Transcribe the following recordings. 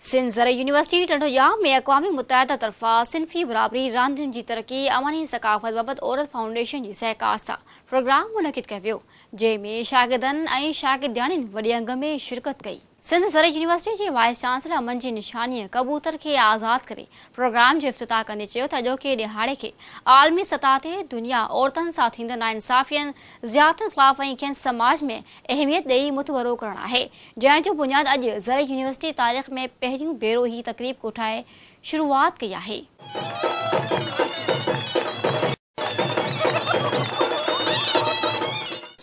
سنڌ زرعي يونيورسٽي ٽنڊوڄام ۾ اقوام متحده طرفان صنفي برابري، راندين جي ترقي، امن ۽ ثقافت بابت عورت فائونڊيشن جي سهڪار سان پروگرام منعقد ڪيو ويو، جنهن ۾ شاگردن ۽ شاگردياڻين وڏي انگ ۾ شرڪت ڪئي. سنڌ زرعي يونيورسٽي جي وائيس چانسلر امن جي نشانيء ڪبوتر کي آزاد ڪري پروگرام جو افتتاح ڪندي چيو ته اڄوڪي ڏهاڙي کي عالمي سطح تي دنيا عورتن سان ٿيندڙ ناانصافين، زيادتين خلاف ۽ کين سماج ۾ اهميت ڏئي متبرو ڪرڻ آهي، جنهن جو بنياد اڄ زرعي يونيورسٽي تاريخ ۾ پهريون ڀيرو هي تقريب ڪوٺائي شروعات ڪئي آهي.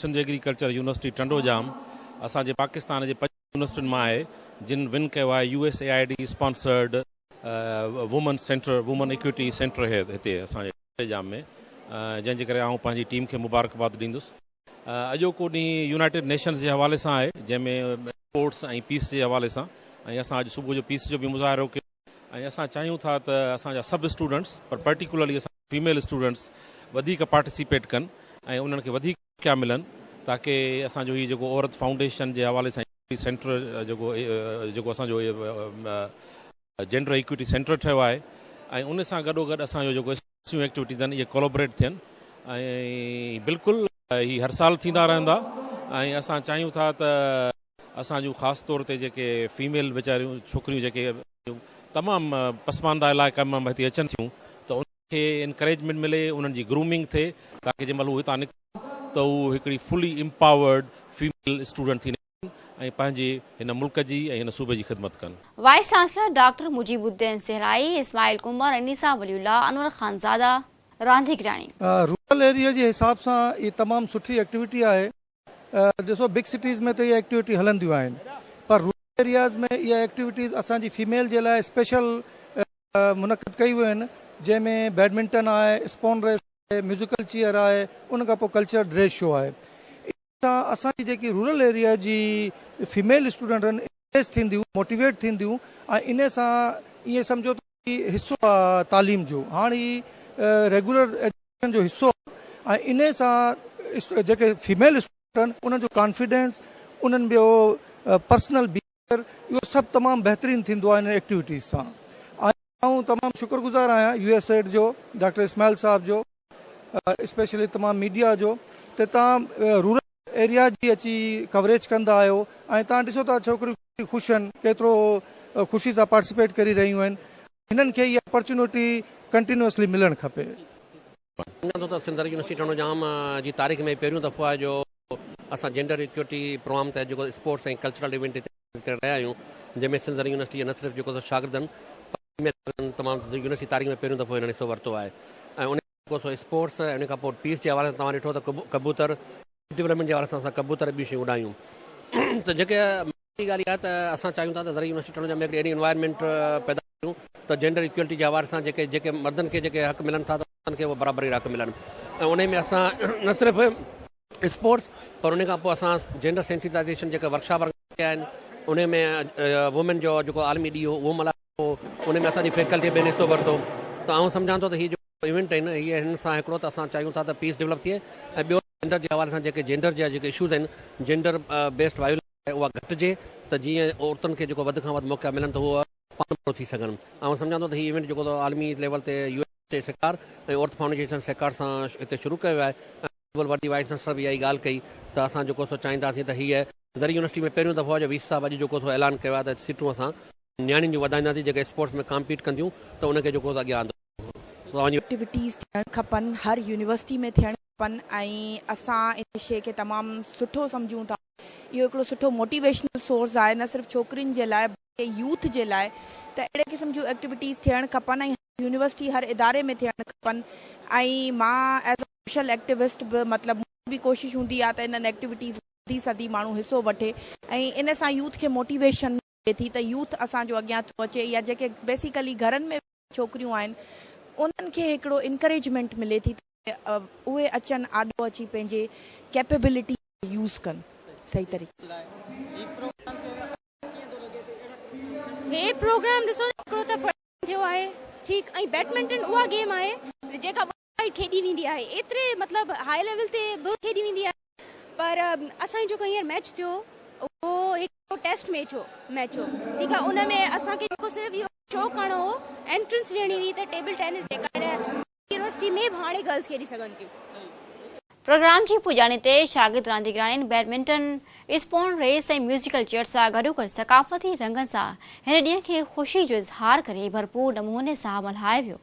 سنڌ ايگريڪلچر يونيورسٽي ٽنڊوڄام اسان جي پاڪستان جي پنج يونيورسٽين مان آهي جن ون ڪيو آهي U S A I D sponsored women centre women equity centre هي هتي اسان جي ٽنڊوڄام ۾ جنهن جي ڪري آئون پنهنجي ٽيم کي مبارڪباد ڏيندس اڄوڪو ڏينهن يونائيٽيڊ نيشنز جي حوالي سان آهي جنهن ۾ اسپورٽس ۽ پيس جي حوالي سان ۽ اسان اڄ صبح جو پيس جو به مظاهرو ڪيو ۽ اسان چاهيون ٿا ته اسان جا سڀ اسٽوڊنٽس پر پرٽيڪولرلي اسان جا فيميل اسٽوڊنٽس وڌيڪ پارٽيسيپيٽ ڪن ۽ انهن کي وڌيڪ موقعا ملن تاڪه اسان جو هي جيڪو عورت فائونڊيشن جي حوالي سان ايڪوٽي سينٽر جيڪو جيڪو اسان جو جينڊر ايڪوٽي سينٽر ٺهيو آهي ۽ ان سان گڏوگڏ اسان جو جيڪو سيون ايڪٽيوٽيز آهن اهي ڪولابريٽ ٿين ۽ بلڪل هي هر سال ٿيندا رهندا ۽ اسان چاهيون ٿا ته اسان جون خاص طور تي جيڪي فيميل ويچاريون ڇوڪريون جيڪي تمام پسمانده علائقن مان هتي اچن ٿيون ته ان کي انڪريجمينٽ ملي انهن جي گرومنگ ٿئي تاڪي جنهن مهل هو هتان نڪرن ته هو هڪڙي فلي امپاورڊ فيميل اسٽوڊنٽ ٿي نڪرن. ۽ پنهنجي هن ملڪ جي ۽ هن صوبي جي خدمت ڪن. Vice chancellor doctor Mujeeb uddin Sahrai, Ismail Kanwar, Anisa Wali Ullah, Anwar Khan Zada, رانديگرياڻي. رورل ايريا جي حساب سان هي تمام سٺي ايڪٽيوٽي آهي ڏسو بگ سٽيز ۾ ته اها ايڪٽيوٽي هلنديون آهن پر رورل ايرياز ۾ اها ايڪٽيوٽيز اسان جي فيميل جي لاء اسپيشل منعقد ڪئي ويون آهن جنهن ۾ بيڊمنٽن آهي اسپون ريس آهي ميوزيڪل چيئر آهي ان کان پوء ڪلچرل ڊريس شو آهي سان اسان جي جيڪي رورل ايريا جي فيميل اسٽوڊنٽ ان انڪريج ٿينديون موٽيويٽ ٿينديون ۽ ان سان ائين سمجهو ته حصو آ تعليم جو هاڻ هي ريگولر ايجوڪيشن جو حصو آ ۽ ان سان جيڪي فيميل اسٽوڊنٽ ان جو ڪانفيڊنس انهن جو پرسنل بي اهو سڀ تمام بهترين ٿيندو آهي انهن ايڪٽيوٽيز سان آئون تمام شڪر گذار آهيان يو ايس ايڊ جو ڊاڪٽر اسماعيل صاحب جو اسپيشلي تمام ميڊيا جو ته تان رورل ايريا جي اچي ڪوريج ڪندا آهيو ۽ تان ڏسو ٿا ڇوڪريون خوش آهن ڪيترو خوشي سان پارٽيسپيٽ ڪري رهيون آهن هنن کي اها اپرچونٽي ڪنٽينيوسلي ملڻ کپي مڃان ٿو ته سنڌ سرڪل يونيورسٽي ٽنڊو ڄام جي تاريخ ۾ هي پهريون دفعو آهي جو اسان جينڊر ايڪوئٽي پروگرام تحت جيڪو اسپورٽس ۽ ڪلچرل ايونٽ هتي آرگنائيز ڪري رهيا آهيون جنهن ۾ سنڌ سرڪل يونيورسٽي جي نه صرف جيڪو سو شاگردن پر فيميل شاگردن تمام يونيورسٽي جي تاريخ ۾ پهريون دفعو هنن حصو ورتو آهي ۽ ان ۾ جيڪو سو اسپورٽس ۽ ان کان پوء پيس جي حوالي سان توهان ڏٺو ته ڪبوتر جي برهمڻ جي وارثن سان ڪبوتر ۽ ٻيون شيون اڏايون ته جيڪي ماڻهن جي ڳالهه اها آهي ته اسان چاهيون ٿا ته زرعي يونيورسٽي ٽنڊو ڄام ۾ هڪڙي اهڙي انوائرمينٽ پيدا ڪريون ته جينڊر ايڪوئلٽي جي حوالي سان جيڪي جيڪي مردن کي جيڪي حق ملن ٿا ته عورتن کي اهي برابري جا حق ملن ۽ انهي ۾ اسان نه صرف اسپورٽس پر انهي کان پوء اسان جينڊر سينسيٽائيزيشن جيڪي ورڪشاپ آرگنائيز ڪيا آهن انهي ۾ وومين جو جيڪو عالمي ڏينهن هو اهو ملهايو ويو انهي ۾ اسان جي فيڪلٽي پڻ حصو ورتو ته آئون سمجهان ٿو ته هي جو ايونٽ آهن اهي هن سان هڪڙو ته اسان چاهيون ٿا ته پيس ڊولپ ٿئي ۽ ٻيو جينڊر جي حوالي سان جيڪي جينڊر جا جيڪي اشوز آهن جينڊر بيسڊ وائولينس آهي اها گهٽجي ته جيئن عورتن کي جيڪو وڌ کان وڌ موقعا ملن ته هو پاڻ ڀرو ٿي سگهن آئون سمجهان ٿو ته هي ايونٽ جيڪو ته عالمي ليول تي يو اين جي سهڪار ۽ اورٿ فائونڊيشن سهڪار سان هتي شروع ڪيو ويو آهي ۽ گلوبل ورلڊ جي وائيس چانسلر به اها ئي ڳالهه ڪئي ته اسان جيڪو سو چاهينداسين ته هيء زرعي يونيورسٽي ۾ پهريون دفعو آهي جو وي سي صاحب اڄ جيڪو سو اعلان ڪيو آهي ته سيٽون اسان نياڻين جون وڌائينداسين جيڪي اسپورٽس ۾ ڪامپيٽ ڪنديون ته ان کي جيڪو سو اڳيان آندو ايڪٽيوٽيز ٿيڻ کپن هر يونيورسٽي ۾ ٿيڻ کپن ۽ اسان ان شي کي تمام سٺو سمجهون ٿا اهو هڪڙو سٺو موٽيويشنل سورس آهي نه صرف ڇوڪرين جي لاء بلڪه يوٿ جي لاء ته اهڙي قسم جون ايڪٽيوٽيز ٿيڻ کپن ۽ هر يونيورسٽي هر اداري ۾ ٿيڻ کپن ۽ مان ايز اي سوشل ايڪٽيوسٽ به مطلب منهنجي به ڪوشش هوندي آهي ته انهن ايڪٽيوٽيز ۾ وڌي سڌي ماڻهو حصو وٺي ۽ ان سان يوٿ کي موٽيويشن ٿئي ٿي ته يوٿ اسان جو اڳيان ٿو اچي يا جيڪي بيسيڪلي گهرن ۾ ويٺل ڇوڪريون آهن انهن کي هڪڙو انڪريجمينٽ ملي ٿي ته اهي اچن آڏو اچي پنهنجي ڪيپيبلٽي کي يوز ڪن صحيح طريقي سان. هي پروگرام ڏسو ته هڪڙو ته فرسٽ ٽائيم ٿيو آهي ٺيڪ ۽ بيٽمنٽن اها گيم آهي جيڪا. ڪري کيڏي ويندي آهي ايتري مطلب هاء ليول تي به کيڏي ويندي آهي پر اسان جي جيڪو هينئر ميچ ٿيو اهو هڪ ٽيسٽ ميچ هو ميچ هو ٺيڪ آهي ان ۾ اسان کي جيڪو صرف اهو شو ڪرڻو هو انٽرنس ڏيڻي هئي ته ٽيبل ٽينس جيڪا يونيورسٽي ۾ به هاڻي گرلس کيڏي سگهن ٿيون پروگرام جي پڄاڻي تي شاگرد رانديگراڻين badminton, spoon race ۽ musical chair سان گڏوگڏ ثقافتي رنگن سان هن ڏينهن کي خوشي جو اظهار ڪري ڀرپور نموني سان ملهايو ويو.